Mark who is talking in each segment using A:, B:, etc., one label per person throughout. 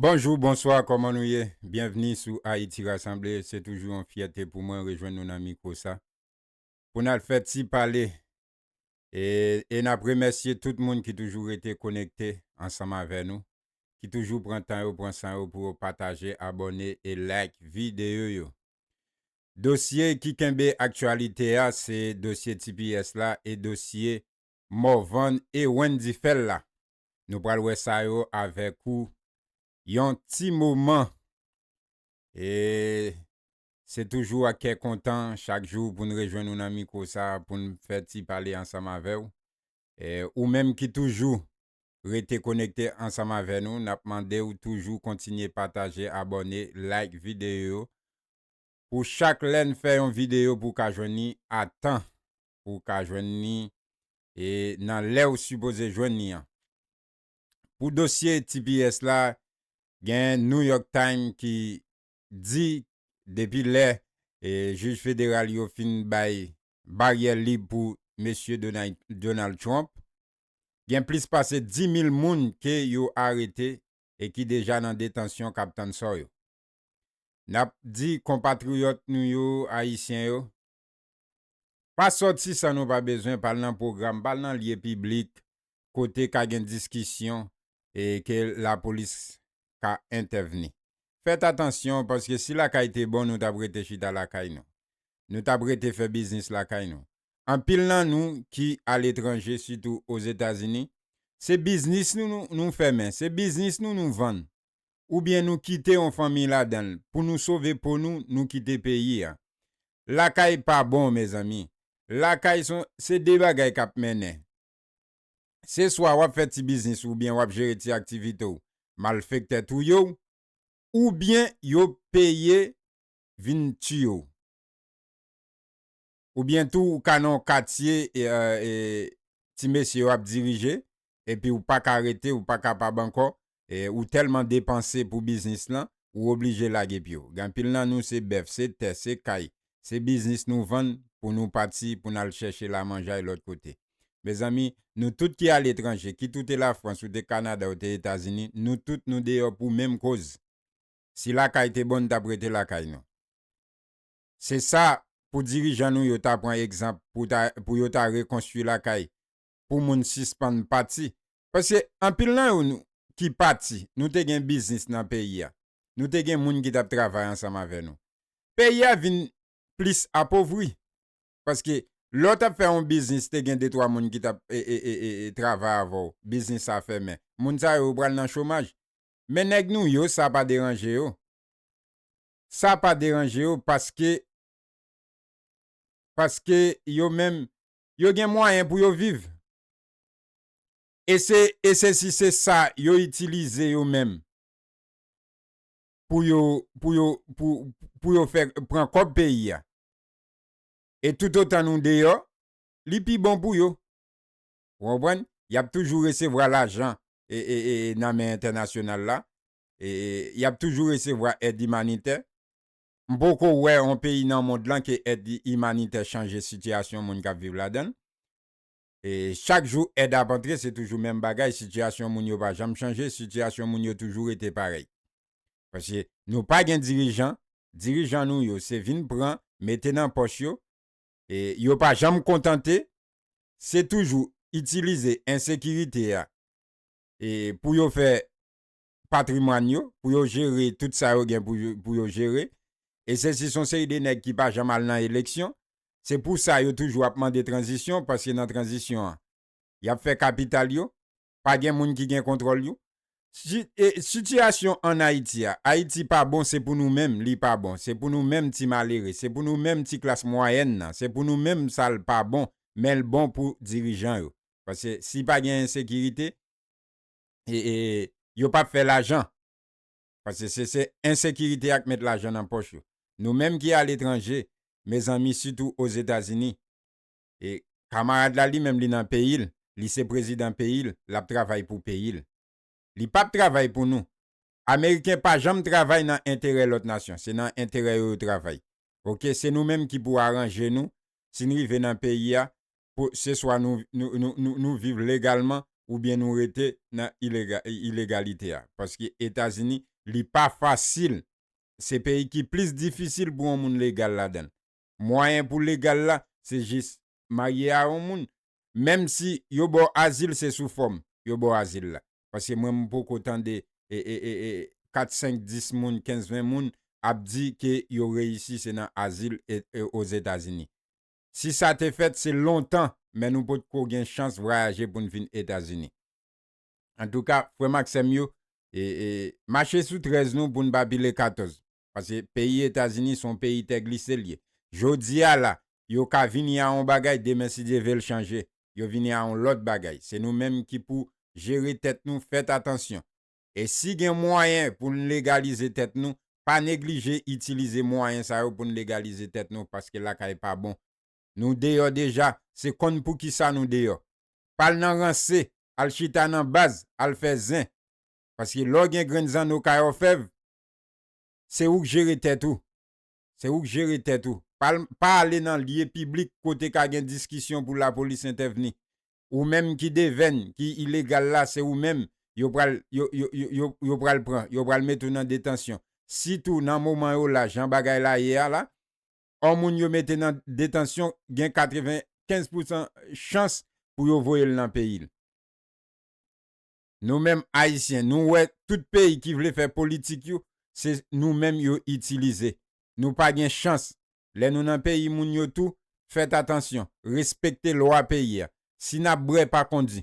A: Bonjou, bonswa, kòman nou ye? Byenvni sou Ayiti Rasanble, se toujou yon fyète pou mwen rejwenn nou nan mikwo sa pou n al fè ti pale e n ap remèsye tout moun ki toujou rete konekte ansanm avè nou, ki toujou pran tan yo, pran san yo pou yo pataje, abòne e like videyo yo. Dosye ki kenbe aktyalite a se dosye tps la e dosye Morvan e Wendy fèl la nou pral wè sa yo avèk ou yon ti moman e se toujou ak kè kontan chak jou poun rejwenn ou nan mikro sa poun fè ti pale ansanm avèw e ou menm ki toujou rete konekte ansanm avè nou nap mandew toujou kontinye pataje abòne like videyo yo pou chak lèn fè yon videyo pou ka jwenn li a tan. pou w ka jwenn li nan lè ou sipoze jwenn li an. Pou dosye tps la, gen New York Times ki di depi lè jij federal yo fin bay baryè lib pou Mesye Donald Trump, gen plis pase 10,000 moun ke yo arete e ki deja nan detansyon k ap tann sò yo. N ap di konpatriyòt nou yo, Ayisyen yo, Pa sòti san nou pa bezwen pa al nan pwogram, pa al nan lye piblik kote ka gen diskisyon e ke lapolis ka entèvni. Fèt atansyon paske si lakay te bon nou t ap rete chita lakay nou. Nou t ap rete fè biznis lakay nou. Anpil nan nou ki aletranje sitou Ozetazini, se biznis nou nou fèmen, se biznis nou nou vann oubyen nou kite yon fanmiy ladanl pou nou sove po nou nou kite peyi a lakay pa bon mezanmi lakay son se de bagay kap mennen se swa wap fè ti biznis ou oubyen wap jere ti aktivite w malfektè touye w oubyen yo peye vin tiye w. Ou byen tou ou ka nan yon katye ti mesye yo ap dirije epi ou pa ka rete, ou pa kapab ankò, ou tèlman depanse pou biznis lan, ou oblije lage pye w. Gen anpil nan nou se bèf, se tè, se kay, se biznis nou vann pou nou pati pou n al chèche lamanjay lòt kote. Mezanmi, nou tout ki aletranje, kit ou te Lafrans, ou te Kanada, ou te Etazini, nou tout nou deyò pou menm koz. Si lakay te bon, n t ap rete lakay nou. Se sa pou dirijan nou yo ta pran egzanp pou ta pou yo ta rekonstwi lakay pou moun sispann pati paske anpil nan yo nou ki pati nou te gen biznis nan peyi a nou te gen moun ki tap travay ansanm avè nou peyi a vin plis apovri paske lè w tap fè yon biznis te gen de twa moun ki tap travay avè w biznis sa fèmen moun sa yo yo pral nan chomaj men nèg nou yo sa pa deranje yo. sa pa deranje yo paske paske yo menm yo gen mwayen pou yo viv e se e se si se sa yo itilize yo menm pou yo pou yo pou pou yo fè pran kòb peyi a e toutotan nou deyò li pi bon pou yo ou konprann y ap toujou resevwa lajan e e e nan men entènasyonal la e yap toujou resevwa èd imanitè. M poko wè on peyi nan mond lan ke èd imanitè chanje sitiyasyon moun kap viv ladann. E chak jou èd ap antre se toujou menm bagay, sitiyasyon moun yo pa janm chanje, sitiyasyon moun yo toujou rete parèy. Paske nou pa gen dirijan, dirijan nou yo se vin pran, mete nan pòch yo, e yo pa janm kontante, se toujou itilize ensekirite a e pou yo fè patrimwàn yo, pou yo jere tout sa yo gen pou yo jere. E se si son seri de nèg ki pa janm al nan eleksyon. Se pou sa yo toujou ap mande tranzisyon, paske nan tranzisyon an, y ap fè kapital yo. Pa gen moun ki gen kontwòl yo. Si, e, sitiyasyon ann Ayiti a, Ayiti pa bon, se pou nou menm li pa bon. Se pou nou menm ti malere, se pou nou menm ti klas mwayèn nan, se pou nou menm sa l pa bon, men l bon pou dirijan yo. Paske si pa gen ensekirite. yo pa p fè lajan. Paske se se ensekirite a k met lajan nan pòch yo. Nou menm ki aletranje, mezanmi sitou Ozetazini, kamarad la li menm li nan peyi l, li se prezidan peyi l, l ap travay pou peyi l. Li pa p travay pou nou. Ameriken pa janm travay nan enterè lòt nasyon. Se nan enterè yo yo travay. Ok, se nou menm ki pou aranje nou, si n rive nan peyi a, pou se swa nou viv legalman oubyen nou rete nan ilegalite a paske etazini li pa fasil se peyi ki plis difisil pou yon moun legal ladan l mwayen pou legal la se jis marye a yon moun menm si yo ba w azil se sou fòm yo ba w azil la paske mwen m poko tande kat senk dis moun kenz ven moun ap di ke yo reyisi se nan azil ozetazini Si sa te fèt se lontan men nou pot ko gen chans vrayaje poun vin etazini. Antouka frèm ak sèm yo mache sou 13 nou poun pa pile 14 paske peyi etazini son peyi tè glise l ye jodia la yo ka vini a on bagay demen si Dye vel chanje yo vini a on lòt bagay se nou menm ki pou jere tèt nou fèt atansyon E si gen mwayen pou n legalize tèt nou, pa neglije itilize mwayen sa yo pou n legalize tèt nou paske lakay pa bon. Nou deyò deja, se konn poukisa nou deyò. Pa al nan ranse, al chita nan baz, al fè zen. Paske lè w gen grenn zanno kay òfèv, se ou k jere tèt ou. Se ou k jere tèt ou. Pa ale nan lye piblik kote ka gen diskisyon pou lapolis entèvni. ou menm ki devenn ki ilegal la se ou menm yo pral yo yo yo yo pral pran yo pral mete w nan detansyon si tou nan moman yo la jan bagay la ye a la on moun yo mete nan detansyon gen 95 pousan chans pou yo voye l nan peyi l. Nou menm ayisyen nou wè tout peyi ki vle fè politik yo se nou menm yo itilize nou pa gen chans lè nou nan peyi moun yo tou fèt atansyon respekte lwa peyi a si nap brè pa kondi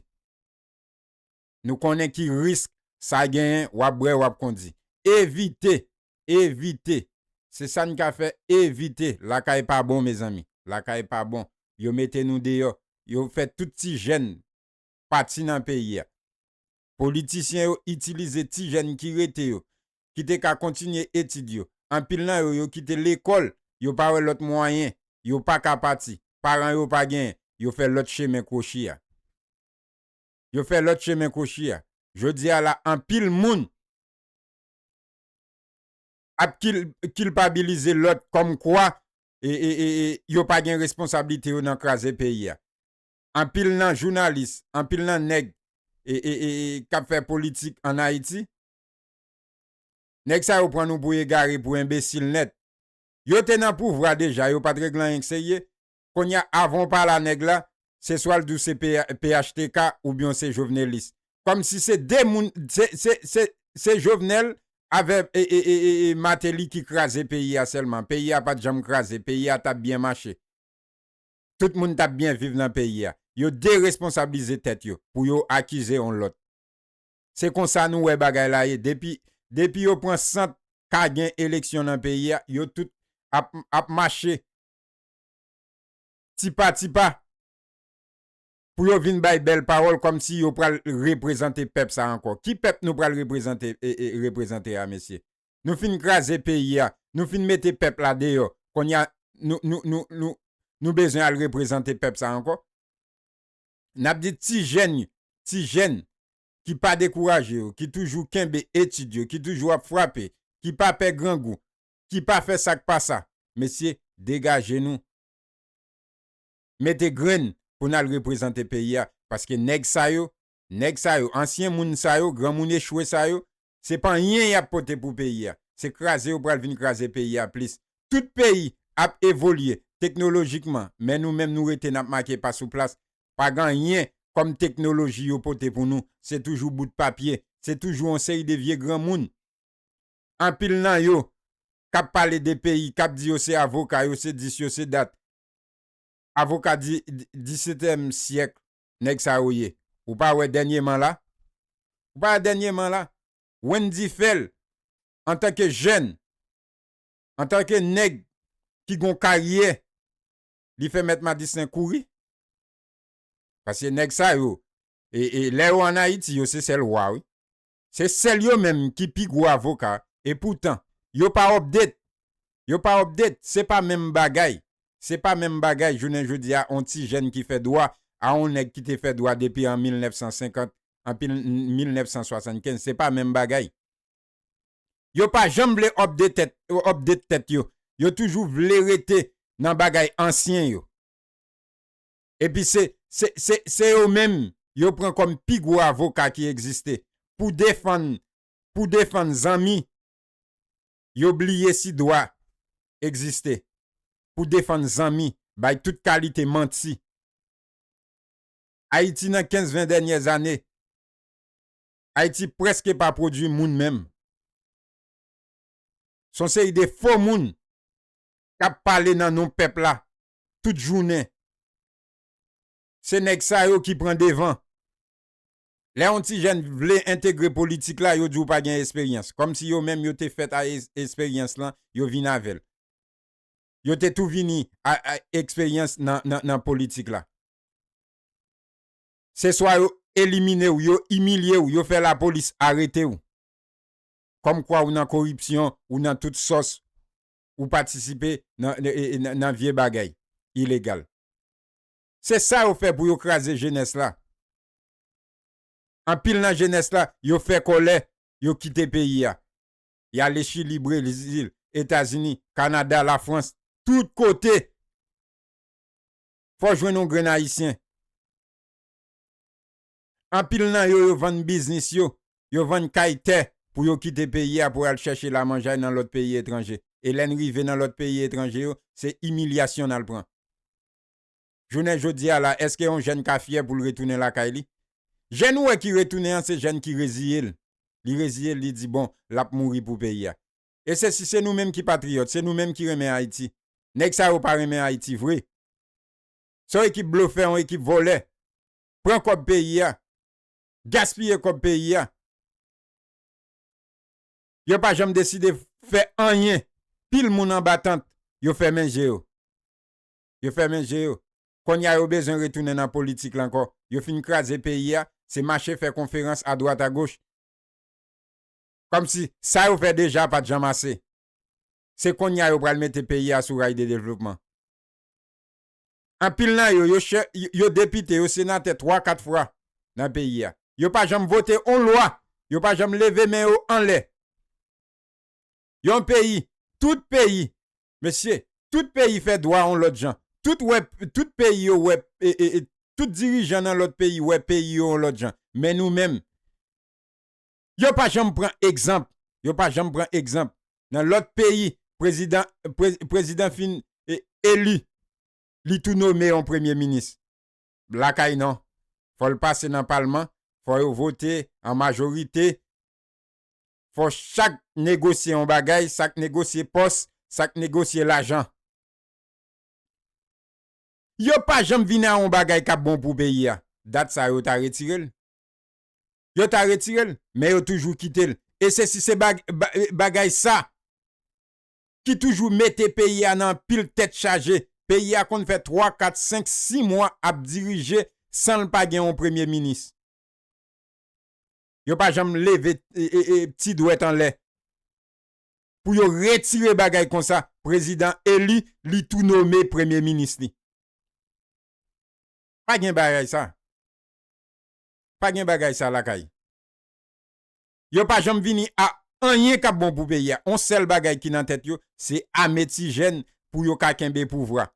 A: nou konnen ki risk sa genyen wap brè wap kondi evite evite se sa n ka fè evite lakay pa bon mezanmi lakay pa bon yo mete nou deyò yo fè tout ti jèn pati nan peyi a. Politisyen yo itilize ti jèn ki rete yo, ki te ka kontinye etid yo, anpil nan yo yo kite lekòl, yo pa wè lòt mwayen, yo pa ka pati, paran yo pa genyen, yo fè lòt chemen kwochi a. Yo fè lòt chemen kwochi a. Jodi a la anpil moun ap kilpabilize lòt kòmkwa yo pa gen responsablite yo nan kraze peyi a. anpil nan jounalis, anpil nan nèg kap fè politik an Ayiti, nèg sa yo pran nou pou egare, pou enbesil nèt. Yo te nan pouvwa deja, yo pat regle anyen k serye, konnya avan w pale a nèg la, se swa l di w se phtk oubyen w se jovenelis. Kòm si se 2 moun, se Jovenel avè Martelly ki kraze peyi a sèlman, peyi a pat janm kraze, peyi a tap byen mache. tout moun tap byen viv nan peyi a. Yo deresponsablize tèt yo pou yo akize on lòt. Se konsa nou wè bagay la ye depi depi yo pran sant ka gen eleksyon nan peyi a yo tout ap ap mache tipa tipa pou yo vin bay bèl pawòl kòm si yo pral reprezante pèp sa ankò. Ki pèp nou pral reprezante reprezante a mesye? Nou fin kraze peyi a, nou fin mete pèp la deyò, konnya nou bezwen al reprezante pèp sa ankò? N ap di ti jèn yo, ti jèn ki pa dekouraje yo, ki toujou kenbe etid yo, ki toujou ap frape, ki pa pè grangou, ki pa fè sa k pa sa, mesye degaje nou, mete grenn pou n al reprezante peyi a, paske nèg sa yo, nèg sa yo, ansyen moun sa yo, granmoun echwe sa yo, se pa anyen yap pote pou peyi a se kraze yo pral vin kraze peyi a plis tout peyi ap evolye teknolojikman men nou menm nou rete nap make pa sou plas pa gen anyen kòm teknoloji yo pote pou nou se toujou bout papye se toujou yon seri de vye granmoun anpil nan yo kap pale de peyi kap di yo se avoka yo se dis yo se dat avoka di xvityèm syèkl nèg sa yo ye ou pa wè dènyeman la ou pa wè dènyeman la Wendy fèl antanke jèn antanke nèg ki gon karyè li fè mèt madistin kouri paske nèg sa yo e e lè yo an ayiti yo se sèl wa wi. Se sèl yo menm ki pi gwo avoka e poutan yo pa update yo pa update se pa menm bagay se pa menm bagay jounen jodi a on ti jèn ki fè dwa a on nèg ki te fè dwa depi an 1950 anpi 1975 se pa menm bagay yo pa janm vle update update tèt yo yo toujou vle rete nan bagay ansyen yo. Epi se se se yo menm yo pran kòm pi gwo avoka ki egziste pou defann pou defann zanmi yo bliye si dwa egziste pou defann zanmi bay tout kalite manti Ayiti nan 15 20 dènyè zane Ayiti prèske pa pwodwi moun menm son seri de fo moun kap pale nan non pèp la tout jounen. Se nèg sa yo ki pran devan. Lè yon ti jèn vle entegre politik la, yo di w pa gen esperyans. Kòm si yo menm yo te fèt a esperyans lan, yo vin avè l. Yo te tou vini a eksperyans nan politik la. Se swa yo elimine w, yo imilye w, yo fè lapolis arete w. Kòmkwa ou nan koripsyon, ou nan tout sòs, ou patisipe nan vye bagay ilegal se sa yo fè pou yo kraze jenès la anpil nan jenès la yo fè kòlè yo kite peyi a yale chili brezil etazini kanada lafrans tout kote fò jwenn yon grenn ayisyen. Anpil nan yo yo vann biznis yo, yo vann kay, tè pou yo kite peyi a pou yo al chèche lamanjay nan lòt peyi etranje. E lè n rive nan lòt peyi etranje yo, se imilyasyon n al pran. Jounen jodi a la, èske yon jèn ka fyè pou l retounen lakay li? Jèn ou wè ki retounen an se jèn ki reziye l. Li reziye l, li di bon, l ap mouri pou peyi a. E se si se nou menm ki patriyòt, se nou menm ki renmen Ayiti. Nèg sa yo pa renmen Ayiti vre. Se yon ekip blofè, yon ekip vòlè. pran kòb peyi a, gaspiye kòb peyi a. Yo pa janm deside fè anyen. Pil moun anba tant, yo fèmen je yo. Yo fèmen je yo. Kounye a yo bezwen retounen nan politik la ankò. Yo fin kraze peyi a, se mache fè konferans adwat agoch. Kòmsi sa yo fè deja pa t janm ase. Se kounye a yo pral mete peyi a sou ray de devlopman. Anpil nan yo, yo chè, yo depite, yo senatè twa kat fwa nan peyi a. Yo pa janm vote on lwa, yo pa janm leve men yo anlè. Yon peyi, tout peyi, mesye, tout peyi fè dwa on lòt jan. Tout wè, tout peyi yo wè, tout dirijan nan lòt peyi wè peyi yo on lòt jan. Men nou menm. Yo pa janm pran egzanp yo pa janm pran egzanp nan lòt peyi prezidan prezidan fin eli li tou nome yon premye minis lakay non fò l pase nan palman fò yo vote an majorite fò chak negosye yon bagay sa k negosye pòs sa k negosye lajan yo pa janm vin a yon bagay k ap bon pou peyi a dat sa yo ta retire l. yo ta retire l men yo toujou kite l e se si se bagay sa ki toujou mete peyi a nan anpil tèt chaje peyi a konn fè 3 4 5 6 mwa ap dirije san l pa gen yon premye minis yo pa janm leve ti dwèt anlè pou yo retire bagay konsa prezidan eli li tou nome premye minis li pa gen bagay sa. Pa gen bagay sa lakay. Yo pa janm vini a anyen kap bon pou peyi a. On sèl bagay ki nan tèt yo, se ame ti jèn pou yo ka kenbe pouvwa.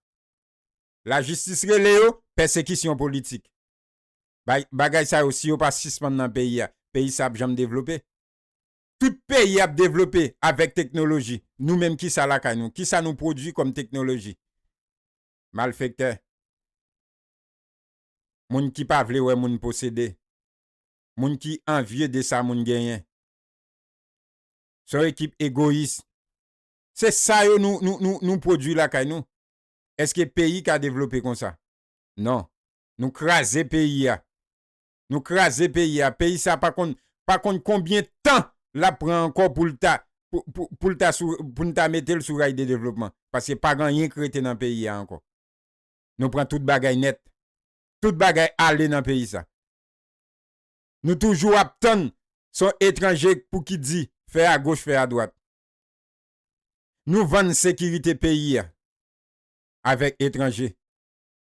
A: Lajistis rele yo, pèsekisyon politik. Bagay sa yo si yo pa sispann nan peyi a, peyi sa ap janm devlope. Tout peyi ap devlope avèk teknoloji. Nou menm kisa lakay nou? Kisa nou pwodwi kòm teknoloji? Malfektè. moun ki pa vle wè moun posede, moun ki anvye de sa moun genyen. Se yon ekip egoyis. Se sa yo nou pwodui lakay nou? Eske peyi ka devlope konsa? Non. Nou kraze peyi a. Nou kraze peyi a. Peyi sa pa konn pa konn konbyen tan l ap pran ankò pou l ta pou l ta sou pou n ta mete l sou ray de devlopman. Paske pa gen anyen k rete nan peyi a ankò. Nou pran tout bagay nèt. Tout bagay ale nan peyi sa. Nou toujou ap tann son etranje pou ki di fè a goch fè a dwat. Nou vann sekirite peyi a avèk etranje.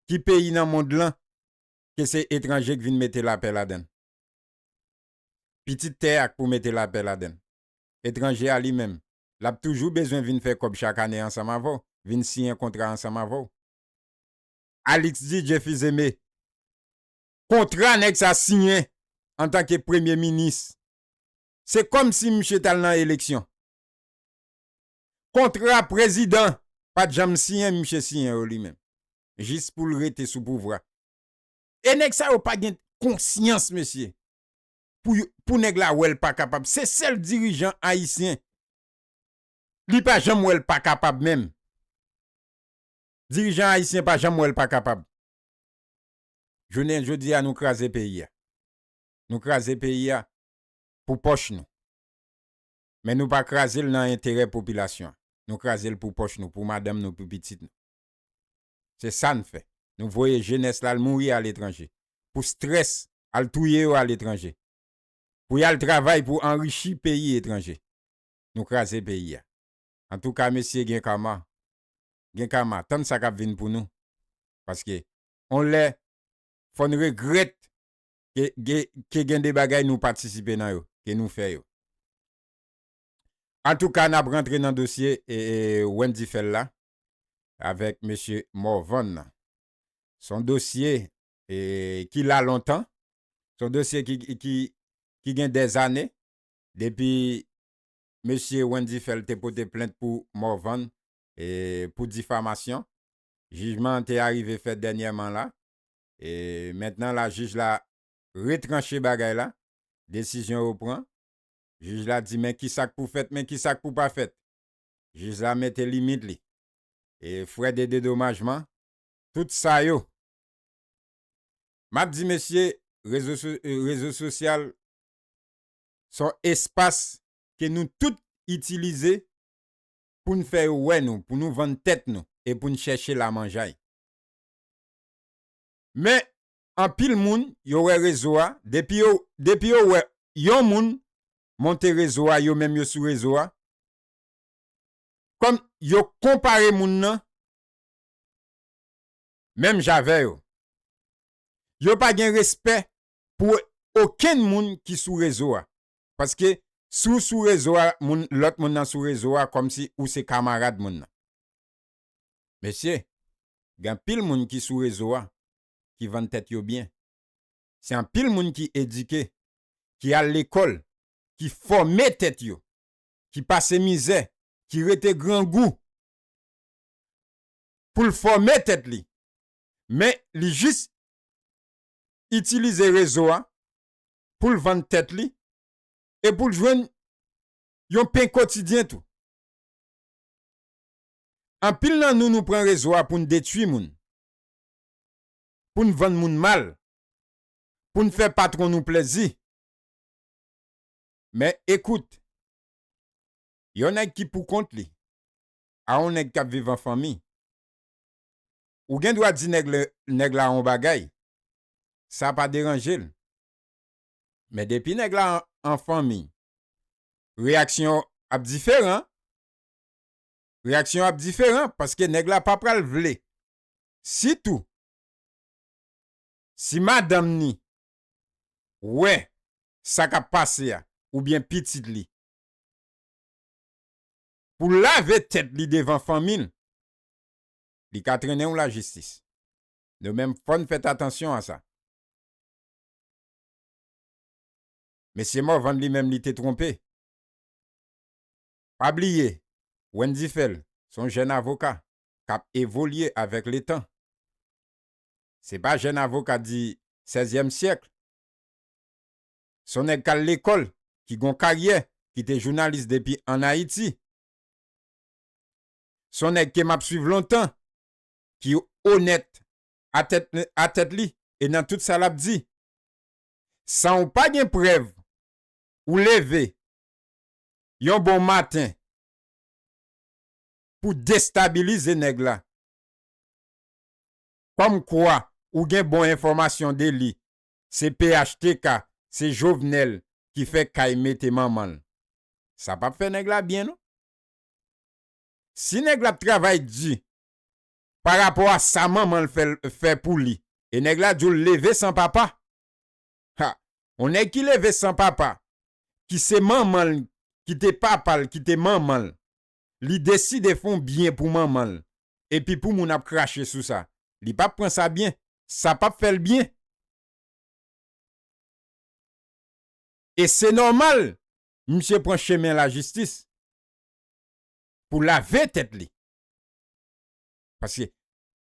A: Ki peyi nan mond lan ke se etranje k vin mete lapè ladann? Pitit tè a k pou mete lapè ladann. Etranje a li menm, l ap toujou bezwen vin fè kòb chak ane ansanm avè w, vin siyen kontra ansanm avè w. Alix di Jeff Izeme, Kontra nèg sa siyen antanke premye minis, se kòm si misye t al nan eleksyon. Kontra prezidan pa t janm siyen misye siyen yo li menm, jis pou l rete sou pouvwa. E nèg sa yo pa gen konsyans mesye. pou yo pou nèg la wèl pa kapab se sèl dirijan ayisyen li pa janm wèl pa kapab menm dirijan ayisyen pa janm wèl pa kapab jounen jodi a nou kraze peyi a nou kraze peyi a pou pòch nou men nou pa krazel nan enterè popilasyon nou krazel pou pòch nou pou madanm nou pou pitit nou. Se sa n fè. Nou voye jenès la al mouri aletranje. Pou strès, al touye yo aletranje. Pou y al travay pou anrichi peyi etranje. Nou kraze peyi a. Antouka mesye gen kama. Gen kama. Tann sa k ap vin pou nou. Paske on lè fò n regrèt ke ke gen de bagay nou patisipe nan yo. Ke nou fè yo. Antouka n ap rantre nan dosye Wendy Phel la. avèk mesye Morvan nan. S on dosye ki la lontan, s on dosye ki gen dèzane depi mesye Wendy Phèl te pote plent pou Morvan pou difamasyon. Jijman an te arive fèt dènyèman la. Mentnan la jij la retranche bagay la, desizyon yo pran. Jij la di men ki sa k pou fèt, men ki sa k pou pa fèt. jij la mete limit li e frè de dedomajman tout sa yo map di mesye rezo rezo sosyal son espas ke nou tout itilize poun fè yo wè nou pou nou vann tèt nou e poun chèche lamanjay men anpil moun yo wè rezo a depi yo depi yo wè yon moun monte rezo a yo menm yo sou rezo a kòm yo konpare moun nan menm jan avè yo yo pa gen respè pou okenn moun ki sou rezo a paske si w sou rezo a moun lòt moun nan sou rezo a kòm si ou se kamarad moun nan mesye gen anpil moun ki sou rezo a ki vann tèt yo byen. Se anpil moun ki edike, ki al lekòl, ki fòme tèt yo, ki pase mizè, ki rete grangou pou l fòme tèt li, men li jis itilize rezo a pou l vann tèt li e pou l jwenn yon pen kotidyen tou. Anpil nan nou nou pran rezo a pou n detui moun, pou n vann moun mal, pou n fè patwon nou plèzi. Men, ekout, yon nèg ki pou kont li a yon nèg k ap viv an fanmi, ou gen dwa di nèg la yon bagay, sa pa deranje l. Men depi nèg la an fanmi, reyaksyon w ap diferan. Reyaksyon w ap diferan paske nèg la pa pral vle sitou si madanm ni wè sa k ap pase a oubyen pitit li, pou l lave tèt li devan fanmi l, li ka trennen w lajistis. Nou menm fò n fèt atansyon a sa. Mesye Morvan li menm li te twonpe. Pa bliye Wendy Phel s on jèn avoka. k ap evolye avèk letan. Se pa jèn avoka di sèzyèm syèkl, s on nèg k al lekòl, ki gon karyè, ki te jounalis depi ann Ayiti. S on nèg ke m ap swiv lontan, ki onèt a tèt li e nan tout sa l ap di. San w pa gen prèv, ou leve yon bon maten, pou destabilize nèg la. Kòm kwa ou gen bon enfòmasyon de li, se phtk, se Jovenel ki fè kay mete manman l. Sa pap fè nèg la byen non. Si nèg la ap travay di pa rapò a sa manman l fè pou li e nèg la di w leve san papa, ha, yon nèg ki leve san papa, ki se manman l ki te papa l ki te manman l, Li deside fon byen pou manman l epi pou moun ap krache sou sa. Li pap pran sa byen. Sa pap fè l byen. E se nòmal misye pran chemen lajistis pou lave tèt li. Paske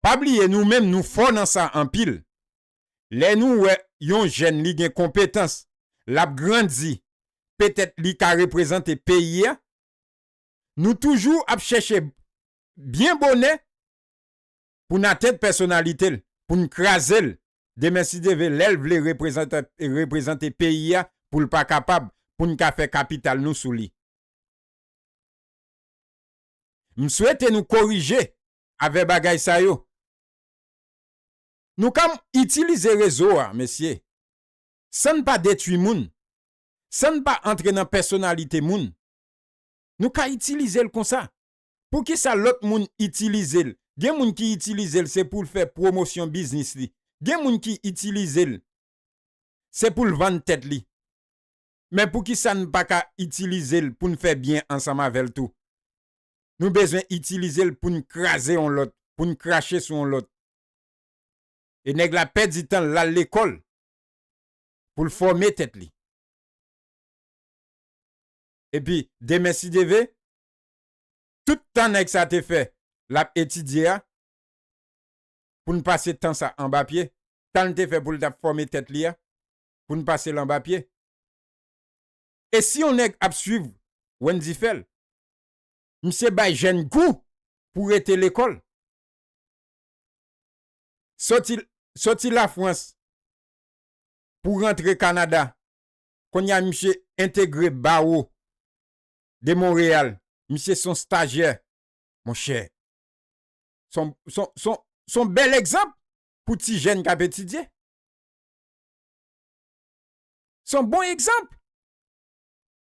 A: pa bliye nou menm nou fò nan sa anpil. Lè nou wè yon jèn li gen konpetans, lap grandi, petèt li ka reprezante peyi a, Nou toujou ap chèche byen bonè pou n atent pèsonalite l, pou n kraze l demen si Dye ve lè l vle reprezante peyi a pou l pa kapab pou n ka fè kapital nou sou li. M swete nou korije avè bagay sa yo. Nou ka itilize rezo a mesye san n pa detwi moun, san n pa antre nan pèsonalite moun. Nou ka itilize l konsa. Poukisa lòt moun itilize l? Gen moun ki itilize l se pou l fè pwomosyon biznis li. Gen moun ki itilize l se pou l vann tèt li. Men poukisa n pa ka itilize l pou n fè byen ansanm avè l tou? Nou bezwen itilize l pou n kraze yon lòt, pou n krache sou yon lòt. E nèg la pèdi tan l al lekòl pou l fòme tèt li. Epi demen sideve, tout tan nèg sa te fè lap etidye a, pou n pase tan sa anba pye, tan l te fè pou l tap fòme tèt li a, pou n pase l anba pye. E si yon nèg ap swiv Wendy Phel, misye bay jèn gou pou rete lekòl. Soti Soti Lafrans pou rantre Kanada Kounye a misye entegre Bawo de Monreyal. Misye se yon stajyè. Monchè, se yon bèl egzanp pou ti jèn k ap etidye. Se yon bon egzanp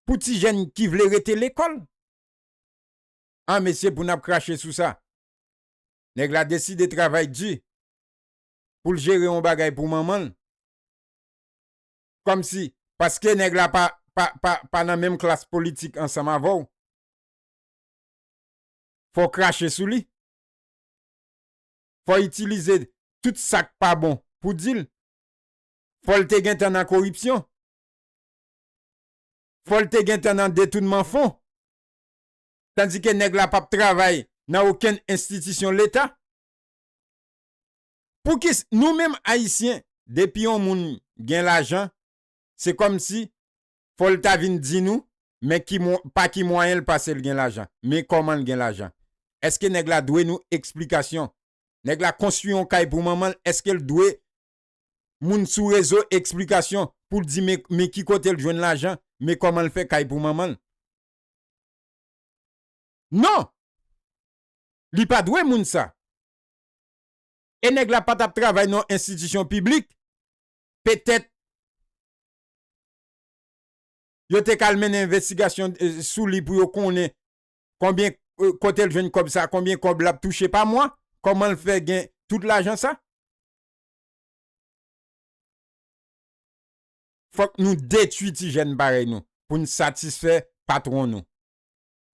A: pou ti jèn ki vle rete lekòl. A mesye pou n ap krache sou sa. Nèg la deside travay di pou l jere yon bagay pou manman l. Kòmsi, paske nèg la pa, pa, pa, pa nan menm klas politik ansanm avè w, fò w krache sou li? Fò w itilize tout sa k pa bon pou w di l? Fò l te gentan nan koripsyon? Fò l te gentan nan detounman fon? Tandike nèg la p ap travay nan okenn enstitisyon Leta? Poukis nou menm ayisyen depi yon moun gen lajan se kòmsi fòl ta vin di nou men ki pa ki mwayen l pasel gen lajan men kòman l gen lajan eske nèg la dwe nou eksplikasyon nèg la konstwi yon kay pou manman l eske l dwe moun sou rezo eksplikasyon pou l di men ki kote l jwenn lajan men kòman l fè kay pou manman l non li pa dwe moun sa. E nèg la pa tap travay nan yon enstitisyon piblik, petèt yo te ka al mennen envestigasyon sou li pou yo konnen konbyen kote l jwenn kòb sa, konbyen kòb lap touche pa mwa, kòman l fè gen tout lajan sa. Fòk nou detwi ti jèn parèy nou pou n satisfè patwon nou,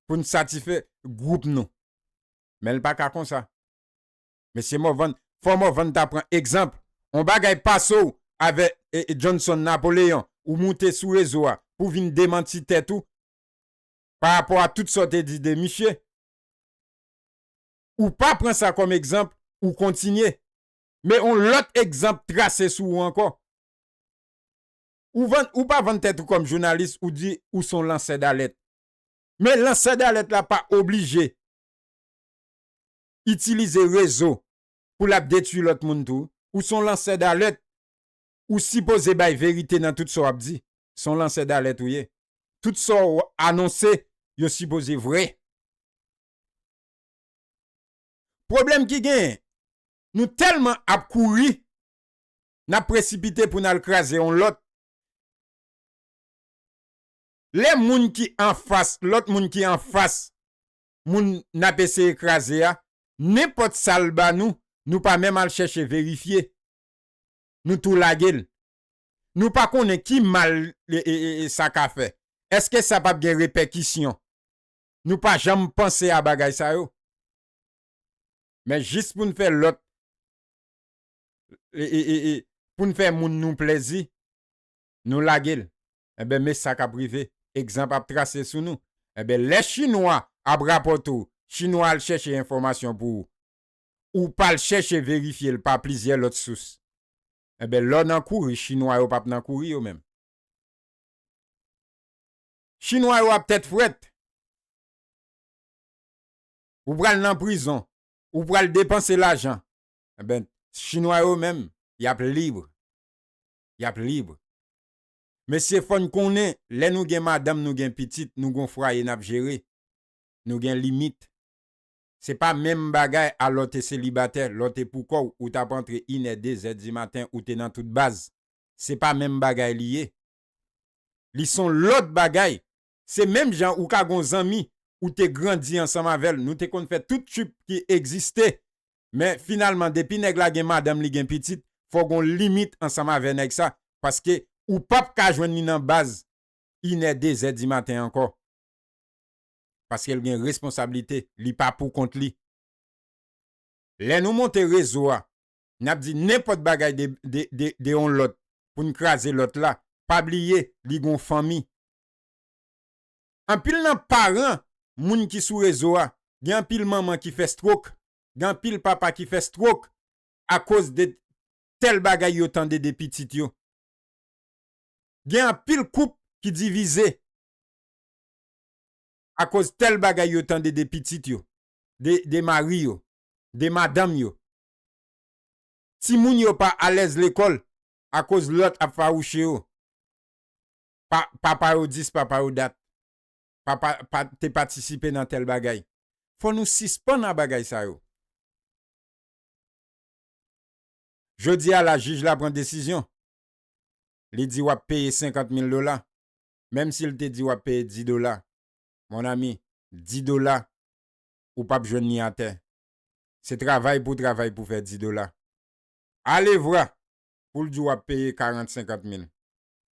A: pou n satisfè gwoup nou. Men l pa ka konsa. Mesye Morvan, fò Morvan ta pran egzanp on bagay pase w avè Johnson Napoleon ou moute sou rezo a pou vin demanti tèt ou pa rapò a tout sa w te di de misye. Ou pa pran sa kòm egzanp ou kontinye. Men on lòt egzanp trase sou ou ankò. Ou vann, ou pa vann tèt ou kòm jounalis ou di ou son lansè dalèt. Men lansè dalèt la pa oblije. itilize rezo pou lap detwi lòt moun tou, ou son lansè dalèt ou sipoze bay verite nan tout sa wap di, son lansè dalèt ou ye, tout sa w anonse yo sipoze vre. Pwoblèm ki genyen, nou tèlman ap kouri nap presipite pou nal kraze yon lòt, lè moun ki anfas lòt moun ki anfas moun n ap eseye kraze a, nenpòt sa l ba nou, nou pa menm al chèche verifye. Nou tou lage l. Nou pa konnen ki mal sa ka fè. Èske sa pap gen repèkisyon? Nou pa janm panse a bagay sa yo. Men jis pou n fè lòt, pou n fè moun nou plèzi, nou lage l, enben me sa k ap rive, egzanp ap trase sou nou, enben lè chinwa ap rapòte w, chinwa al chèche enfòmasyon pou ou, ou pa al chèche verifye l pa plizyè lòt sous, enben lè w nan kouri chinwa yo p ap nan kouri yo menm. Chinwa yo ap tèt frèt. Ou pral nan prizon, ou pral depanse lajan, enben chinwa yo menm y ap libre. yap libre mesye fòn konnen lè nou gen madanm nou gen pitit nou gon fraye nap jere nou gen limit se pa menm bagay a lè w te selibatè lè w te pou kòw ou tap antre inè dezè di maten ou te nan tout baz se pa menm bagay li ye li son lòt bagay Se menm jan ou ka gon zanmi ou te grandi ansanm avèl nou te konn fè tout tchuip ki egziste men finalman depi nèg la gen madanm li gen pitit fò gon limit ansanm avè nèg sa paske ou pap ka jwenn li nan baz inè dezè dimaten ankò paskel gen responsablite li pa pou kont li lè nou monte rezo a nap di nenpòt bagay de de on lòt poun kraze lòt la pa bliye li gon fanmi Anpil nan paran moun ki sou rezo a gen anpil manman ki fè strok, gen anpil papa ki fè strok akoz de tèl bagay yo tande de pitit yo. Gen anpil koup ki divize akoz tèl bagay yo tande de pitit yo, de mari yo, de madanm yo. Timoun yo pa alèz lekòl akoz lòt ap fawouche yo. Papa yo dis papa yo dat. Papa pa te patisipe nan tèl bagay. Fò nou sispann a bagay sa yo. Jodi a la jij la pran desizyon. Li di wap peye 50 mil dola. Menm si l te di wap peye 10 dola. Mon ami, 10 dola ou pap jwenn ni atè. Se travay pou w travay pou w fè 10 dola. Alevwa pou l di w wap peye 40, 50 mil.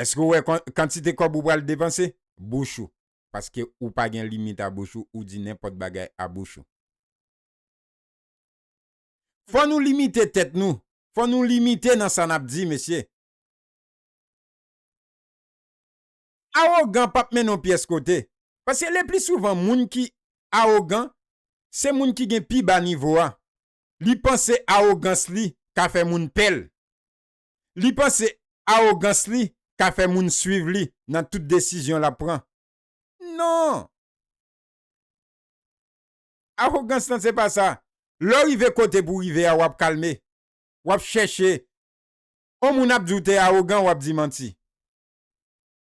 A: Eske ou wè kantite kòb ou pral depanse? Bouch ou. Paske ou pa gen limit a bouch ou, ou di nenpòt bagay a bouch ou. Fò nou limite tèt nou. Fò nou limite nan sa nap di mesye. Awogan pap mennen w pyès kote. Paske lepli souvan moun ki awogan, se moun ki gen pi ba nivo a. Li panse awogans li ka fè moun pè l. Li panse awogans li ka fè moun swiv li nan tout desizyon l ap pran. Non! Awogans lan se pa sa. Lè w rive kote pou w rive a, w ap kalme. W ap chèche. On moun ap di w te awogan, w ap di manti.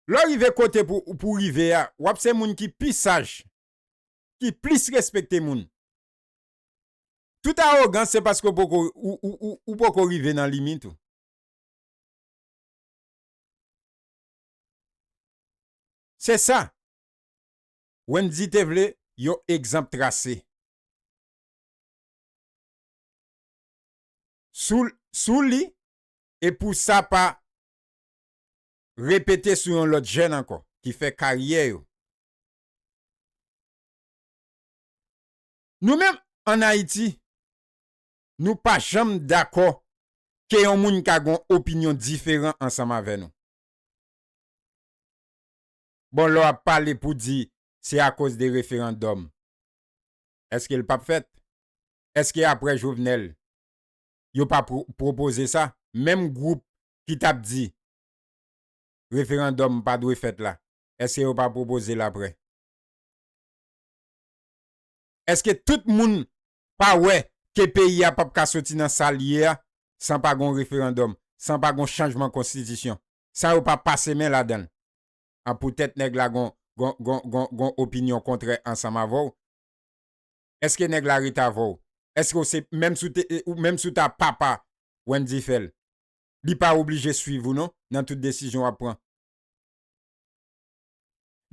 A: Lè w rive kote pou w rive a, w ap se moun ki pi saj, ki plis respekte moun. Tout arogans se paske ou poko rive nan limit ou. Se sa. Wendy te vle yon egzanp trase. Sou li e pou sa pa repete sou yon lot jèn anko ki fè karyè yo. Nou menm an Ayiti, nou pa janm dakò ke yon moun ka gen yon opinyon diferan ansanm avè nou. Bon lè w ap pale pou di se akoz de referandòm, eske l p ap fèt? Eske aprè Jovenel, yo pa pwopoze sa? Menm gwoup ki t ap di referandòm pa dwe fèt la, eske yo pa pwopoze l aprè? Eske tout moun pa wè ke peyi a pap ka soti nan sa l ye a san pa gon referandòm, san pa gon chanjman konstitisyon, san yo pa pase men ladan l? A poutèt nèg la gon gon opinyon kontrè ansanm avè w? Eske nèg la ret avè w? Eske w se menm si w te menm si w ta papa Wendy Phel li pa oblije swiv ou non nan tout desizyon w ap pran.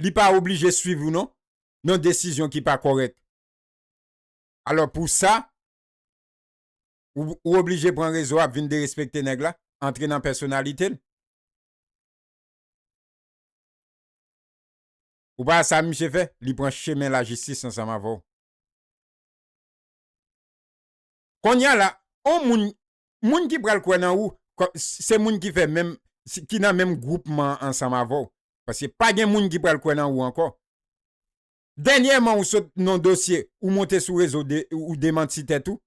A: li pa oblije swiv ou non nan desizyon ki pa kòrèk. Alò pou sa ou oblije pran rezo ap vin derespekte nèg la, antre nan pèsonalite l. Ou pa wè sa misye fè, li pran chemen lajistis ansanm avè w. Konnya la on moun moun ki pral kwè nan ou kòm se moun ki fè menm ki nan menm gwoupman an ansanm avè w paske pa gen moun ki pral kwè nan ou ankò dènyèman ou sot non dosye ou monte sou rezo ou demanti tèt ou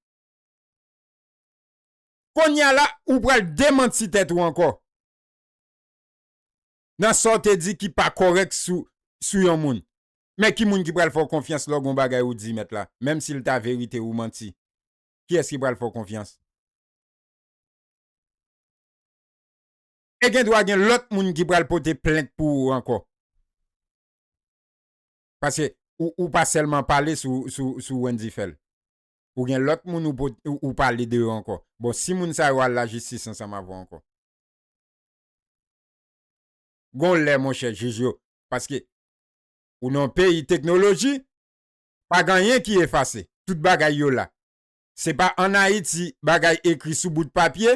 A: konnya la ou pral demanti tèt ou ankò. nan sa w te di ki pa kòrèk sou yon moun. Men ki moun ki pral fè w konfyans lè w gen yon bagay ou di mèt la, menm si l ta verite ou manti? Kiyès ki pral fè w konfyans? E gen dwa gen lòt moun ki pral pote plent pou ou ankò. Paske ou pa sèlman pale sou Wendy Phel. Ou gen lòt moun ou pale de yo ankò. Bon, si moun sa yo al lajistis ansanm avè w ankò? Gon lè monchè jij yo paske ou nan yon peyi teknoloji pa gen anyen ki efase tout bagay yo la se pa an ayiti bagay ekri sou bout papye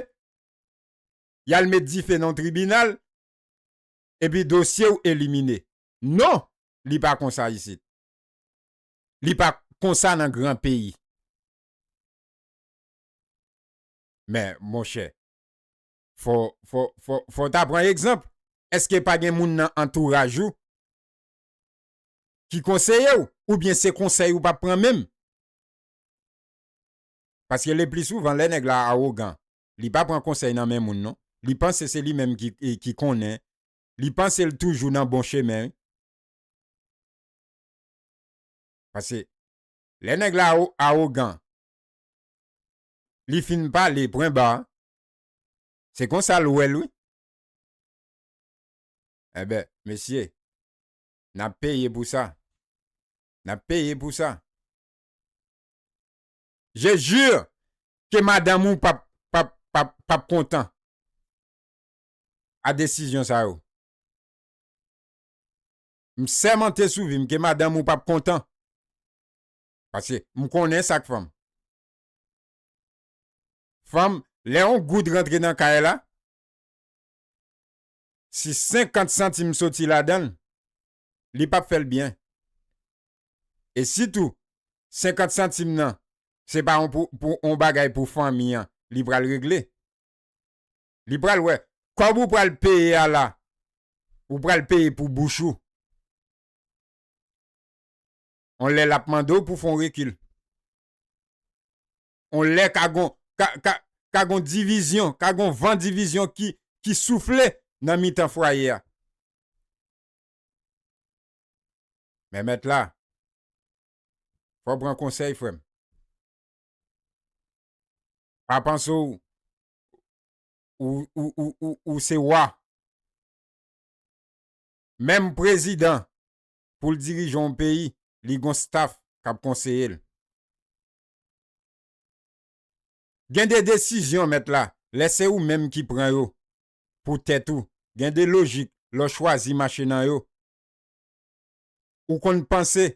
A: yal met dife nan tribinal epi dosyew elimine non li pa konsa isit li pa konsa nan gran peyi men monchè. Fò, fò, fò, fò w ta pran egzanp. Èske pa gen moun nan antouraj ou ki konseye w? Oubyen se konsèy ou p ap pran menm? Paske lepli souvan, lè nèg la awogan, li pa pran konsèy nan men moun non. Li panse se li menm ki konnen. Li panse l toujou nan bon chemen wi. Pase, lè nèg la awogan, li fin pale pwenba, Se konsa l wè l wi. Enben, mesye, n ap peye pou sa. N ap peye pou sa. Je jure ke madanm ou pap, pap, pap, pap kontan a desizyon sa yo. M sèmante sou vi m ke madanm ou pap kontan. Paske m konnen sa k fè m. Fanm, lè on goud rantre nan kay la, si senkant santim soti ladan l, li p ap fè l byen. E si tou, senkant santim nan, se pa on bagay pou fanmi an li pral regle. Li pral wè, kòb ou pral peye a la, ou pral peye pou bouch ou. On lè l ap mande w pou w fè on rekil. On lè ka gon ka gon divizyon, ka gon van divizyon ki soufle nan mitan fwaye a. Men mèt la, fò w pran konsèy frè m. Pa panse w ou se wa. Menm prezidan pou l dirije yon peyi, li gon staff k ap konseye l. Gen de desizyon, mèt la, lè se ou menm ki pran yo pou tèt ou, gen de lojik lè w chwazi mache nan yo. Ou konn panse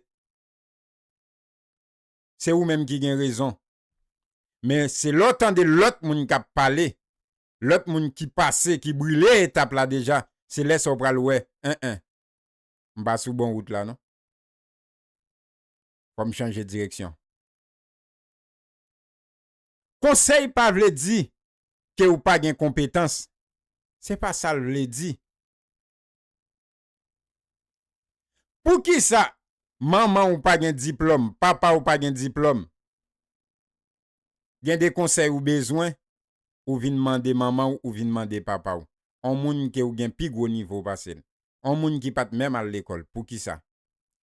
A: se ou menm ki gen rezon. Men se lè w tande lòt moun k ap pale, lòt moun ki pase, ki brile etap la deja, se lè sa w pral wè, en en, m pa sou bon wout la non. Fò m chanje direksyon. Konsèy pa vle di ke ou pa gen konpetans, se pa sa l vle di. Poukisa manman ou pa gen diplòm, papa ou pa gen diplòm? Gen de konsèy ou bezwen, ou vin mande manman ou, ou vin mande papa ou. on moun ke ou gen pi gwo nivo pase l, on moun ki pa t menm al lekòl. Poukisa?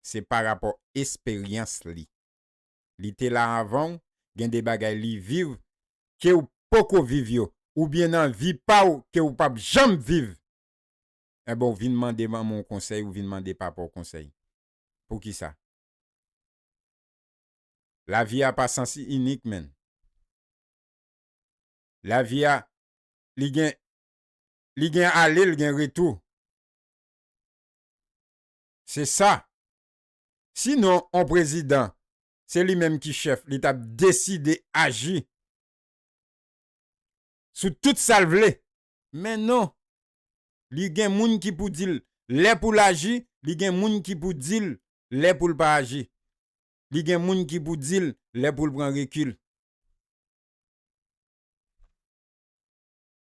A: Se parapò esperyans li. Li te la avan ou, gen de bagay li viv ke ou poko viv yo, oubyen nan vi pa ou ke ou pap janm viv. Enben ou vin mande manman w konsèy, ou vin mande papa w konsèy. Poukisa? Lavi a pa sans inik menn. Lavi a li gen li gen ale l gen retou. Se sa. Si non on prezidan se li menm ki chèf li tap deside aji sou tout sa l vle. Men non. Li gen moun ki pou di l lè pou l aji, li gen moun ki pou di l lè pou l pa aji. Li gen moun ki pou di l lè pou l pran rekil.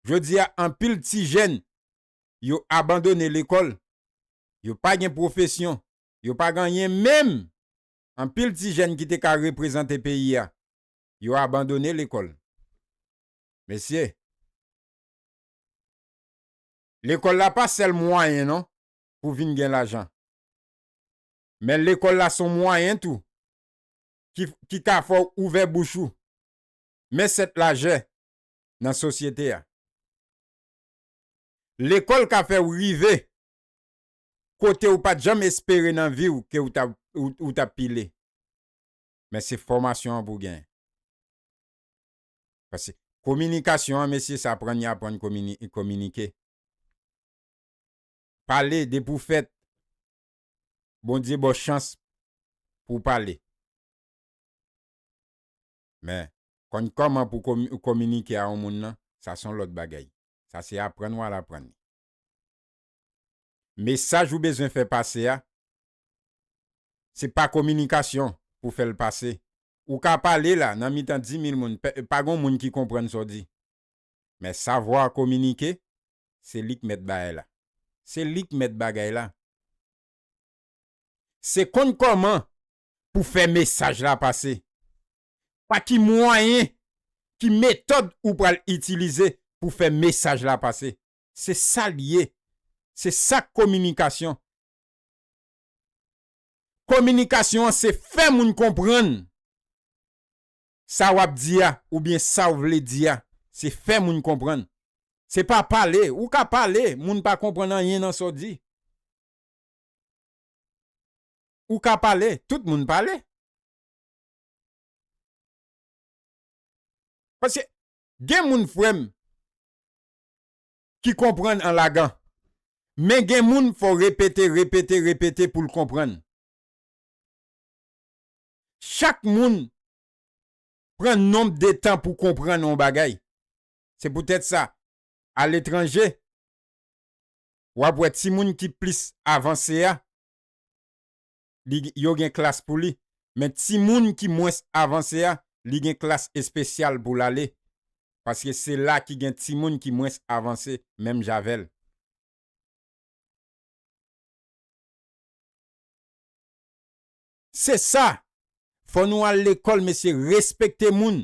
A: Jodi a anpil ti jèn yo abandone lekòl, yo pa gen pwofesyon, yo pa gen anyen menm anpil ti jèn ki te ka reprezante peyi a yo abandone lekòl. Mesye! Lekòl la pa sèl mwayen non pou vin gen lajan. Men lekòl la son mwayen tou ki ka fè w ouvè bouch ou Men sèt lajè nan sosyete a. Lekòl ka fè ou rive kote ou pat janm espere nan vi ou ke ou tap pile. Men se fòmasyon an pou gen. Pase kominikasyon an mesye sa aprann ya aprann kominike. Pale depi ou fèt Bondye baw chans pou pale. Men, konn kòman pou w kominike a yon moun nan, sa s on lòt bagay. Sa se aprann w al aprann li. Mesaj ou bezwen fè pase a, se pa kominikasyon pou fè l pase. Ou ka pale la, nan mitan dimil moun, pa gen yon moun ki konprann sa w di. Men savwa kominike, se li k mèt bagay la. Se li k mèt bagay la. Se konn kòman pou fè mesaj la pase? Pa ki mwayen, ki metòd ou pral itilize pou fè mesaj la pase? Se sa l ye. Se sa k kominikasyon. Kominikasyon an se fè moun konprann sa w ap di a oubyen sa w vle di a. Se fè moun konprann. Se pa pale. Ou ka pale, moun pa konprann anyen nan sa w di. Ou ka pale, tout moun pale. Paske gen moun frè m ki konprann an lagan. Men gen moun fò w repete, repete, repete pou l konprann. Chak moun pran nonb de tan pou konprann yon bagay. Se poutèt sa, aletranje, w ap wè timoun ki plis avanse a, li yo gen klas pou li, men timoun ki mwens avanse a li gen klas espesyal pou l ale paske se la ki gen timoun ki mwens avanse menm jan avè l. Se sa! Fò nou al lekòl mesye respekte moun,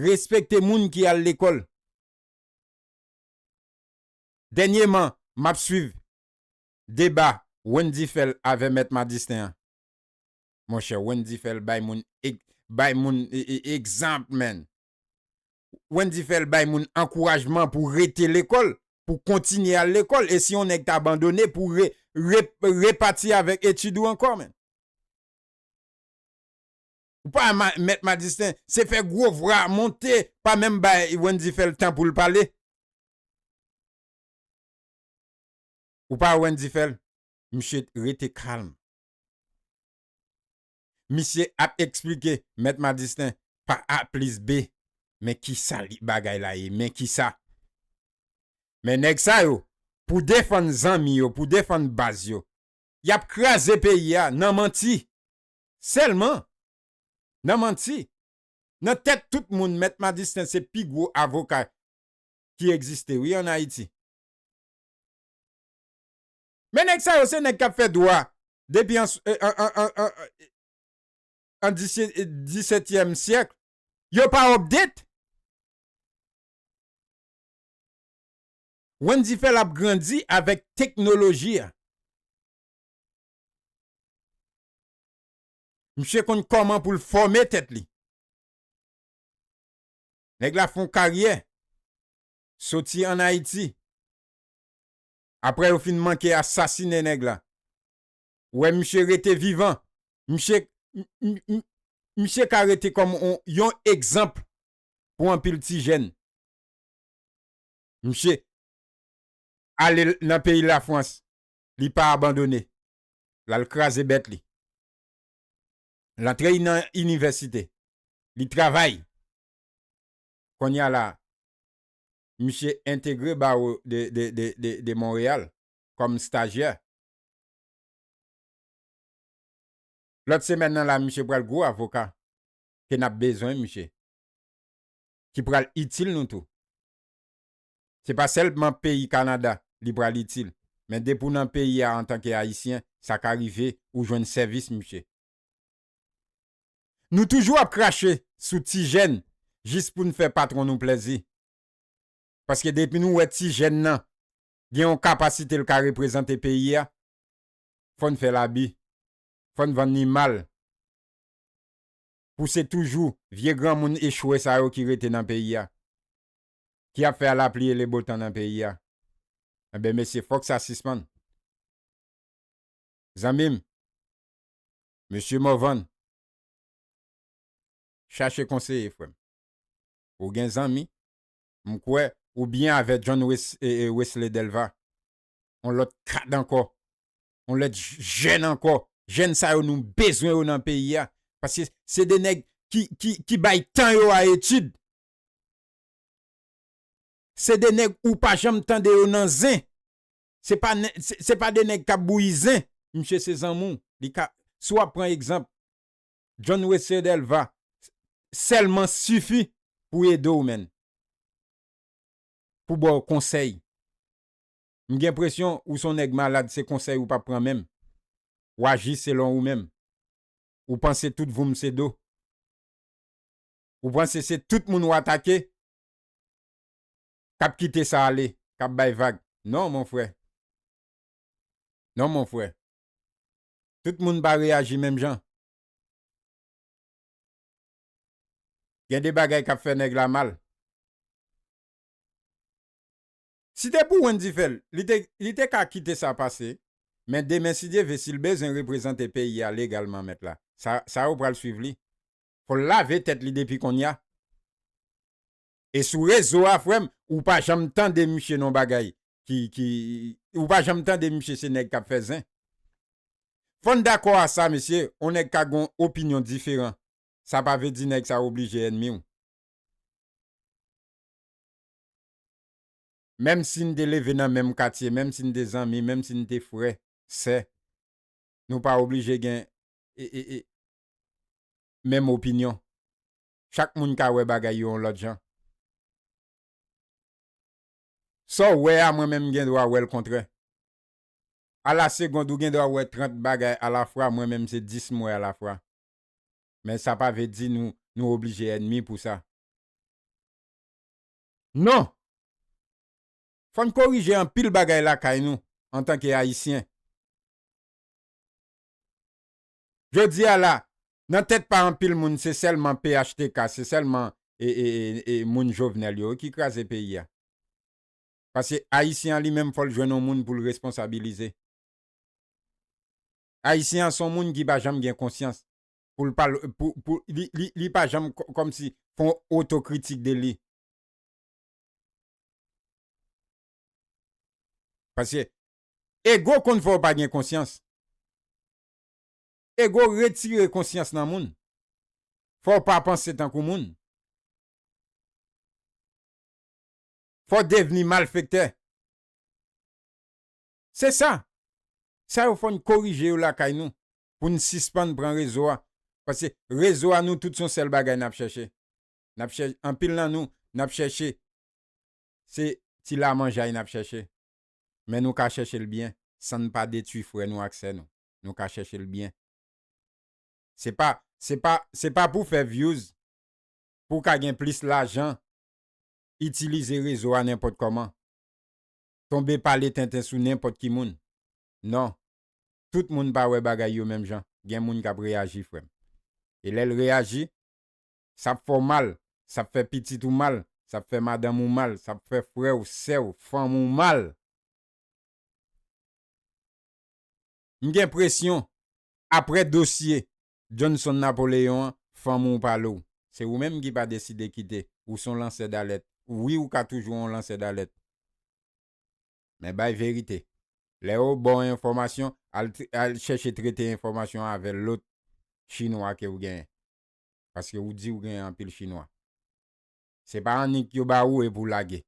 A: respekte moun ki al lekòl. Dènyeman m ap swiv Deba Wendy Phel avè Mèt Madistin an Monchè Wendy Phel bay moun bay moun egzanp man Wendy Phel bay moun ankourajman pou rete lekòl pou kontinye al lekòl e si yon nèg ta bandone pou re re repati avèk etid ou ankò man Ou pa wè Mèt Madistin se fè gwo vwa monte pa menm bay Wendy Phel tan pou l pale. Ou pa wè Wendy fè l? Misye rete kalm. Misye ap eksplike Mèt Madistin pa A plis B. Men ki sa bagay la ye, men ki sa. Men nèg sa yo, pou defann zanmi yo, pou defann baz yo, y ap kraze peyi a nan manti. Sèlman. Nan manti. Nan tèt tout moun Mèt Madistin se pi gwo avoka ki egziste wi an Ayiti. Men nèg sa yo se nèg kap fè dwa depi an an disètyèm syèkl. Yo pa update? Wendy Phel ap grandi avèk teknoloji a. Misye konn kòman pou l fòme tèt li. Nèg la fon karyè. soti an Ayiti aprè yo fin manke asasine nèg la ou wè misye rete vivan misye misye ka rete kòm yon egzanp pou anpil ti jèn misye ale nan peyi lafrans li pa abandone lal kraze bèt li l antre nan inivèsite li travay. Konnya la misye entegre Barreau de Montréal kòm stajyè. Lòt semèn nan la misye pral gwo avoka ke nap bezwen misye. Ki pral itil nou tou. Se pa sèlman peyi Canada li pral itil men depi w nan peyi a antanke Ayisyen sa ka rive ou jwenn sèvis misye. Nou toujou ap krache sou ti jèn jis pou n fè patwon nou plèzi. Paske depi nou wè ti jèn nan gen yon kapasite l ka reprezante peyi a, fò n fè l abi, fò n vann li mal pou se toujou vye granmoun echwe sa yo ki rete nan peyi a, ki ap fè alapliyelebotan nan peyi a. Enben mesye fòk sa sispann. Zanmi m, Mesye Morvan, chache konseye frè m. Ou gen zanmi, m kwè, ou byen avè John Wesley Delva, on lòt kad ankò, on lèt jèn ankò, jèn sa yo nou bezwen yo nan peyi a, paske se de nèg ki bay tan yo a etid. Se de nèg ou pa janm tande yo nan zen. se pa de nèg kap bouyi zen misye se zanmou li ka si wap pran egzanp John Weslier Delva sèlman sifi pou ede w menn pou baw konsèy m gen presyon ou son nèg malad se konsèy ou pap pran menm w aji selon ou menm ou panse tout voum se do ou panse se tout moun w atake. kap kite sa ale kap bay vag non mon frè non mon frè tout moun pa reyaji menm jan gen de bagay kap fè nèg la mal si te pou Wendy fèl li te li te ka kite sa pase men demen si Dye ve sil bezwen reprezante peyi a legalman mèt la sa sa yo pral swiv li fòl lave tèt li depi konnya. E sou rezo a frèm ou pa janm tande misye non bagay ki ki ou pa janm tande misye se nèg kap fè zen fòn dakò a sa mesye on nèg ka gon opinyon diferan sa pa vle di nèg sa oblije ènmiw menm si n te leve nan menm katye menm si n te zanmi menm si n te frè sè nou pa oblije gen menm opinyon. chak moun ka wè bagay yo yon lòt jan. Sa w wè a mwen menm m gen dwa wè l kontrè. A la segond ou gen dwa wè 30 bagay a la fwa mwen menm se 10 m wè a la fwa. Men sa pa ve di nou nou oblije ènmi pou sa. Non! Fò n korije anpil bagay lakay nou antanke Ayisyen. Jodi a la, nan tèt pa anpil moun se sèlman phtk, se sèlman moun Jovenel yo wi ki kraze peyi a. Pase Ayisyen an li menm fò l jwenn yon moun pou l responsabilize. Ayisyen an se yon moun ki pa janm gen konsyans pou l pa li pa janm kòmsi fè yon otokritik de li. Pase ego konn fè w pa gen konsyans. Ego retire konsyans nan moun. Fò w pa panse tankou moun. Fò w devni malfektè. Se sa! Sa yo fò n korije yo lakay nou pou n sispann pran rezo a. Paske rezo a nou tout son sèl bagay n ap chèche. N ap chè, anpil nan nou, n ap chèche se ti lamanjay n ap chèche. Men nou ka chèche l byen, san n pa detwi frè nou ak sè nou. Nou ka chèche l byen. Se pa, se pa, se pa pou fè vyouz, pou w ka gen plis lajan, itilize rezo a nenpòt kòman, tonbe pale tenten sou nenpòt ki moun. Non. Tout moun pa wè bagay yo menm jan. Gen moun k ap reyaji, frè m. E lè l reyaji, Sa ap fè w mal, sa ap fè pitit ou mal, sa ap fè madanm ou mal, sa ap fè frè w, sè w, fanm ou mal. M gen presyon, apre dosye Johnson Napoléon an, fanm ou pale w. Se ou menm ki pa deside kite. Ou s on lansè dalèt. Wi ou ka toujou on lansè dalèt. Men bay verite. Lè yo ba w enfòmasyon, al chèche trete enfòmasyon avè lòt chinwa ke w genyen. paske ou diw gen anpil chinwa se pa annik yo ba ou epi w lage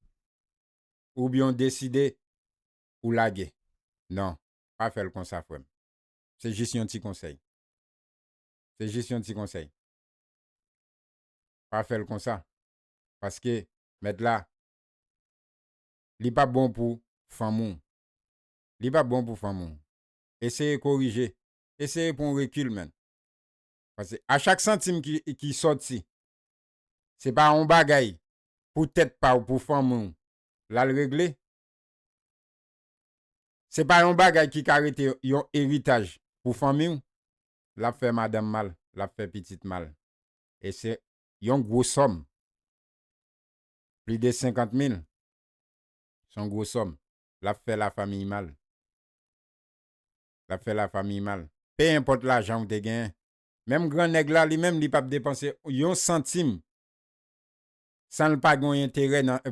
A: oubyen w deside ou lage nan pa fèl konsa frèm se jis yon ti konsèy se jis yon ti konsèy pa fèl konsa paske mèt la li pap bon pou fanm ou li pap bon pou fanm ou eseye korije eseye pran w rekil menn. Pase a chak santim ki sòti, se pa yon bagay pou tèt pa w, pou fanmi w l al regle. Se pa yon bagay ki ka rete yon eritaj pou fanmi w. L ap fè madanm mal, l ap fè pitit mal. E se yon gwo sòm. Plis de 50 mil, se yon gwo sòm. L ap fè lafamiy mal. lap fè la famiy mal. Pe enpòt lajan ou te gen. Menm gran nèg la li menm li pap depanse yon santim sanl pa gen yon enterè nan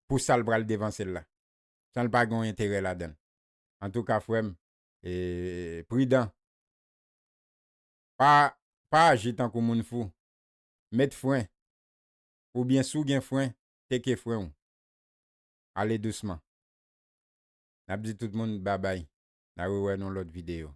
A: pou sal pral depansel la. Sanl pa gen yon enterè ladann. Antouka frèm pridan. Pa aji tankou moun fou. Met fren. Oubyen si w gen fren teke fren w. Ale dousman. Nap di tout moun babay na rewè nou lòt video.